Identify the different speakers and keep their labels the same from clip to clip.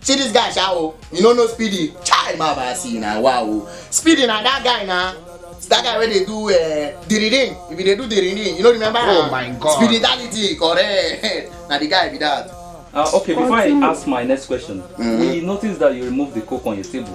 Speaker 1: See this guy sha o, you no know Speedy? Chai ma ba see na wow o. Speedy na that guy na. It's that guy wey dey do uh, diririn, he bin dey do diririn, you no remember Oh na? my God. Speeditality correct, na the guy be that. Uh, okay, before I ask my next question, we noticed that you removed the coke on your table.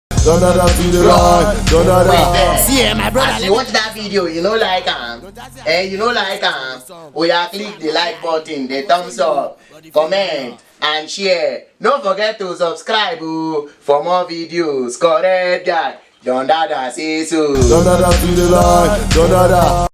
Speaker 1: Da da da be the right, da da da. See, eh, my brother, As you watch that video, you know like am. Eh, you know like am. Oya click the like button, the thumbs up, comment and share. No forget to subscribe o for more videos. Correct guy, Don Dada say so. Da da da be the right, da da da.